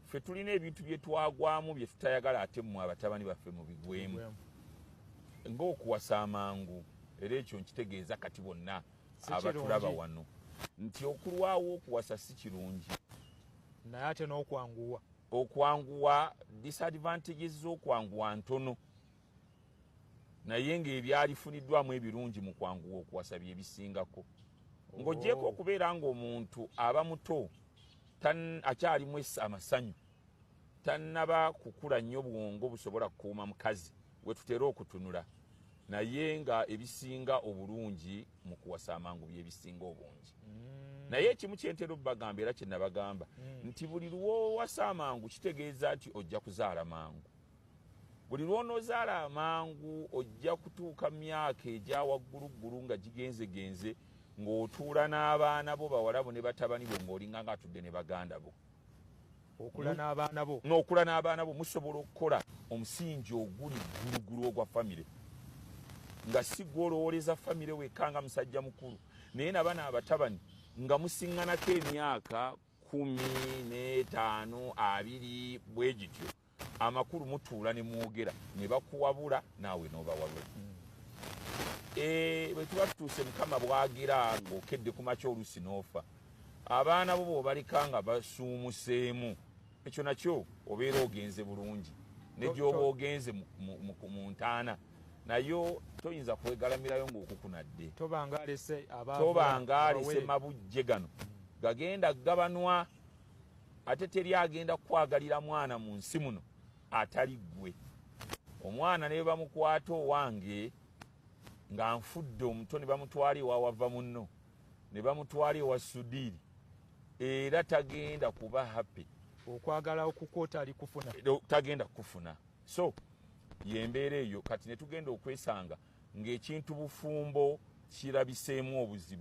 ffe tulina ebintu bye twagwamu bye tutayagala ate mmwe abatabani baffe mu bigwemu ng'okuwasa amangu era ekyo nkitegeeza kati bonna abatulaba wano nti okulwawo okuwasa si kirungi naye ate n'okwanguwa okwanguwa disadvantages z'okwanguwa ntono naye ng'ebyalifuniddwamu ebirungi mu kwanguwa okuwasa bye bisingako ng'ogyeko oh. okubeera ng'omuntu aba muto akyalimu amasanyu tannaba kukula nnyo bwongo busobola kukuuma mukazi wetutera okutunula naye nga ebisinga obulungi mu kuwasa amangu byebisinga obungi mm. naye ekimu kyentera obubagamba era kyenabagamba mm. nti buli lwowasa amangu kitegeeza nti ojja kuzaala mangu Buli lw'onoozaala amangu ojja kutuuka mu myaka egya wagguluggulu nga gigenzegenze ng'otuula n'abaana bo bawala bo ne batabani bo ng'olinga ng'atudde ne baganda bo okula n'abaana bo n'okula n'abaana bo musobola okukola omusingi oguli gguluggulu ogwa famire nga si gwolowoleza famire wekka nga musajja mukulu naye nabana abatabani nga musiŋŋanako emyaka kumi n'etaano abiri bwe gityo amakulu mutuula ne mwogera ne bakuwabula naawe n'obawabula mm. eh, bwe tuba tutuuse mukama bwagira ng'okedde ku makya oluusi n'ofa abaana bo bwobaleka nga basuumuseemu ekyo nakyo obeera ogenze bulungi negyoba ogenze mu ntaana nayo toyinza kwegalamirayo ngaokukunadde tobanga alese mabujje gano gagenda gabanwa ate teri agenda kukwagalira mwana mu nsi muno atali ggwe omwana ne bamukwata owange nga nfudde omuto ne bamutwala ewawava munno ne bamutwala ewa sudiiri era tagenda kuba happy okwagala okukwota ali kufuna tagenda kufuna so yembeera eyo kati netugenda okwesanga ng'ekintu bufumbo kirabiseemu obuzibu